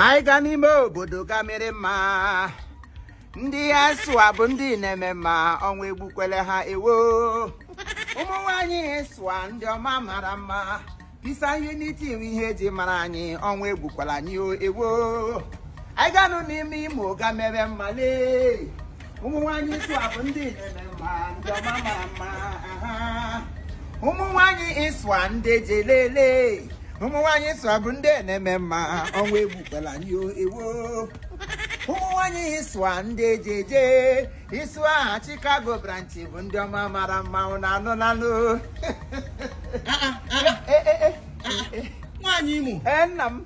anyị ga n'ime obodo ga mere mma ndị ISWA bụ ndị na-eme mma ọnwụ egbukwele ha ewo ụmụ nwanyị ISWA ndị ọma mara mma peace and unity wụ ihe eji mara anyị ọnwụ egbukwala anyị o ewo anyị ganụ n'ime Imo ga mere mma lee ụmụ nwanyị ISWA bụ ndị na-eme mma ndị ọma mara mma aha. ụmụ nwanyị ISWA ndị eji elele ụmụ nwanyị ISWA bụ ndị na-eme mma ọnwụ egbukwala anyị o ewo ụmụ nwanyị ISWA ndị eji eje ISWA Chicago branch bụ ndị ọma mara mma ụnụ anụnanụ nwaanyị Imo ee nna m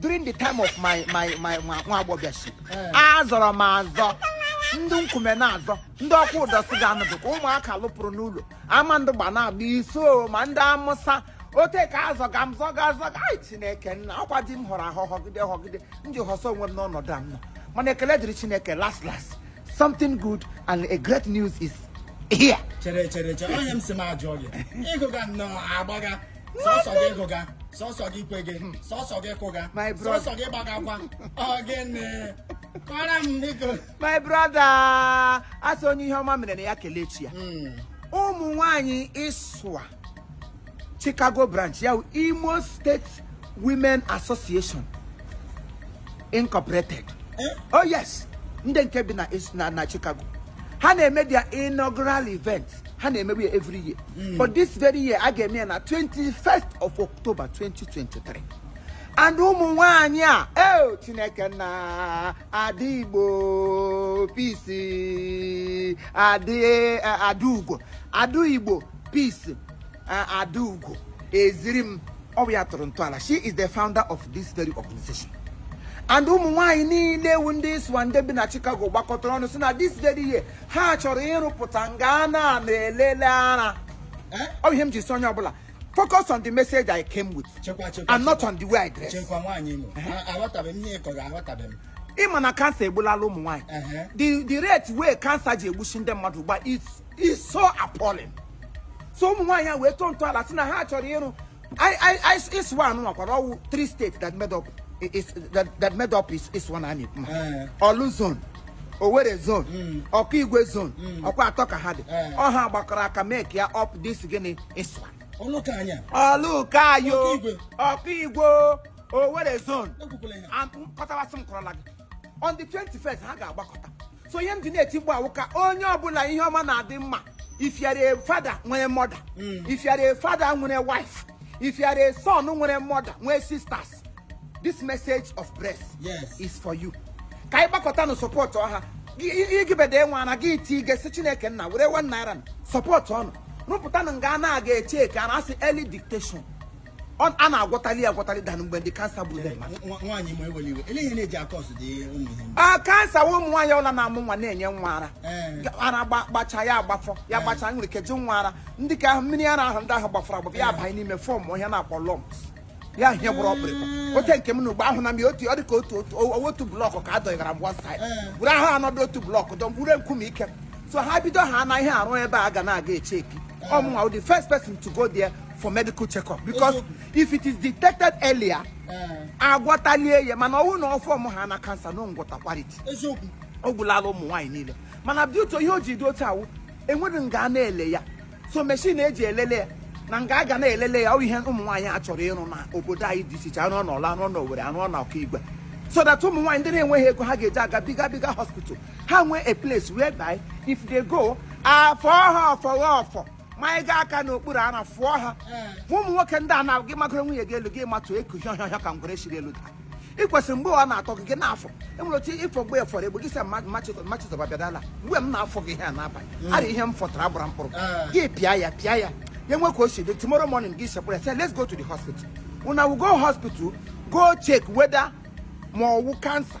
during the time of my my my nwa nwa agbọghọship azọrọ m azọ ndị Nkume na-azọ ndị Okwudor si ga-anụ dịka Ụmụaka lụpụrụ n'ụlọ Amandugba na-agba Isu ma ndị Amụsa ote ka azọ ga m zọga azọ ga anyị chineke nna ọkwa di m họrọ ahọ họgide họgide m ji hụsa onwe m n'ọnọdụ a m nọ mana ekele dịrị chineke last last something good and a great news is here chere chere chere onye m si m ajụ gị ị gụga nnọọ agbaga sọsọ gị gụga sọsọ gị kwege sọsọ gị kụga My brother. sọsọ gị gbagakwa ọ gịnị kọọrọ m biko my brother a sị onye ihe ọma mere na ya kelee chi ya Mm. ụmụ nwanyị ISWA Chicago branch ya wụ Imo State Women Association Incorporated eh? oh yes ndị nke bi na na na Chicago ha na-eme their inaugural event ha na-emebu ya every year hmm. but this very year a ga-eme ya na 21st of October 2023 and ụmụ nwanyị a eo eh, Chineke nna Ada Igbo Peace eh, Adaugo Ada Igbo Peace Adaugo Ezirim ọ bụ ya tọrọ ntọala she is the founder of this very organization and ụmụ nwaanyị niile ewu ndị ISWA ndị bi na Chicago gbakọtara ọnụ si na this very year ha chọrọ ịrụpụta nga a na-elele ara eh? ọ ihe m ji si onye ọbụla focus on the message I came with and not on the way I dress. ị ma na cancer egbulala ụmụ nwaanyị the rate wey cancer ji egbusi ndị mmadụ gba is so appalling so ụmụ nwaanyị a wee tọọ ntọala si na ha chọrọ ịrụ ISWA anụ nwakwara ọwụ three states that made up is that, that made up is ISWA anyị ma Eh. Orlu zone Owerri zone Mm. Okigwe zone Mm. ọkwa atọ ka ha dị Eh. ọ ha gbakọrọ aka make ya up this gịnị ISWA ọnụ ka anya Orlu ka yo Okigwe. Okigwe Owerri zone ekwukwala ihe a nkọtabasị m kọrọla gị on the 21st ha ga-agbakọta so ihe m ji na-eti ịgba awụ ka onye ọbụla ihe ọma na-adị mma if you are a father nwere mother if you are a father nwere wife if you are a son nwere mother nwee sisters this message of breast Yes. is for you ka anyị gbakọtanụ sọpọtụọ ha igibede nwa na gị iti ige si chineke nna were one naira sọpọtụọnụ rụpụtanụ nga a na-aga echeki a na-asị early detection Ọ- a na-agwọtali ya agwọtali than mgbe the cancer gburu ndị mmadụ Nwa- nwaanyị imo ewela iwe ele ihe na-eji akọsụ ụdị ụmụ ihe ndị a cancer wụ ụmụ nwaanyị ọla na-amụ nwa na-enye nwa ara Ee. ara gba- gbacha ya agbafọ ya gbacha nwere ike jụ nwa ara ndị ka ahụ mmiri ara ahụ ndị ahụ gbafọrọ agbafọ ya abanye n'ime fọmụọ ihe a na-akpọ lumps ya hie gbụrụ ọkpụrụkpụ ote nke m na ugbo ahụ na m ya otu ọ dị ka otu otu o- otu blọkụ ka a dọnyegara m one side Ee. were ahụ another two blọkụ dọ wure nkume ike so ha bido ha na ihe arụ ebe a ga na-aga echeki ọ mụnwa the first person to go there for medical check-up because if it is detected earlier eh. agwọtalie ya mana ọwụ na ọ form ha na cancer na ngwọta kwariti ọ gwụlala ụmụ nwaanyị niile mana but ihe o ji dị otu a wụ enweghị nga a na-ele ya so machine eji elele ya na nga a ga na-elele ya ọ ihe ụmụ nwaanyị a chọrọ ịrụ na obodo anyị dị iche iche arụọ n'ọlụ arụọ n'owere arụọ na okigwe so that ụmụ nwaanyị ndị na-enweghị ego ha ga-eji aga bigger bigger hospital ha nwee a place whereby if they go afọ ha ọfọ ha ọfọ manyega aka n'okpuru ara fọọ ha ma ụmụ nwoke ndị a na gị magoro nwunye gị elu gị matụ eku hịọ hịọ hịọ ka ngwere siri elu daa ị kwesịrị mgbe ọ na-atọ gị gị na-afọ enwere otu ịfọ mgbe efọrọ egbe gị sị mama chizọba bịadala mgbe m na-afọ gị ihe a n'abalị ara ihe m fọtara gbara mkpụrụ gị pịa ya pịa ya ya nwe ka o si dị tomorrow morning gị sekpụrụ ya sị let's go to the hospital una we go hospital go check whether ma ọwụ cancer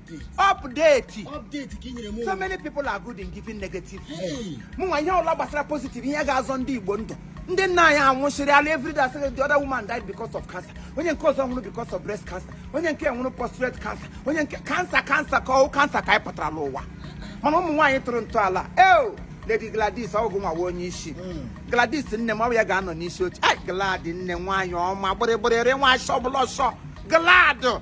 update update ka i nyere m so many people are good in giving negative news mụnwa ihe ọla gbasara positive ihe ga-azọ ndị igbo ndụ ndị nna anyị anwụchiri ala everyday a sị the other woman died because of cancer onye nke ọzọ nwụrụ because of breast cancer onye nke nwụrụ prostate cancer onye nke cancer cancer ka ọwụ cancer ka anyị pụtara n'ụwa mana ụmụ nwaanyị tụrụ ntọala eo lady gladys ọgwụ nwawa onye isi gladys nne m ọ bụ ya ga-anọ n'isi oche ai glad nne nwaanyị ọma gbịrịgbịrịrị nwa ashọ bụla ọsọ glad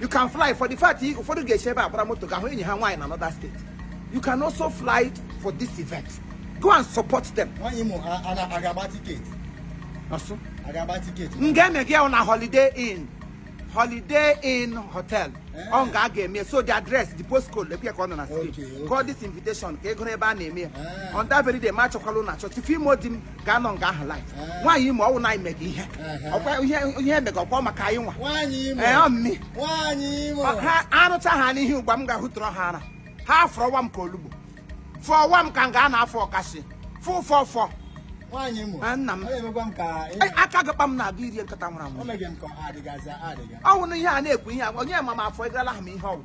you can fly for the fact ụfọdụ ga-esi ebe a gbara moto ga-ahụ enyi ha nwaanyị na another state you can also fly for this event go and support them nwaanyị imo a ga-agba tiketi ọ sị a ga-agba tiketi nga emega na holiday inn holiday inn hotel eh. ọ nga a ga-eme so the address the postcode lekwe ka ọ nọ na street call this invitation ka ị gụrụ ebe a na-eme ya eh. on that very day ma achọkwala ụlọ achọ tufu ime odi m gaa nọ nga ahụ live nwaanyị imo ọwụ na anyị mega ihe ọkwa ihe ihe emega ọkwa maka anyị nwa nwaanyị imo ee ọ mmi nwaanyị imo ha arụcha ha n'ihe ugbua m ga-ahụtụrụ ha ara ha afọrọwa m ka olugbu fọwa m ka nga a na-afọ ọkasị fọ fọ fọ nwaanyị imo Ah, nna m. ọ na-emekwa m ka ị- Ee, aka ga-akpa m na-abụ iri nkata nwụrụ anwụ o meghị m ka ọ adịgazi adịga ọwụ na ihe a na-ekwu ihe a onye ma m afọ egarala ha m ihe ọgwụ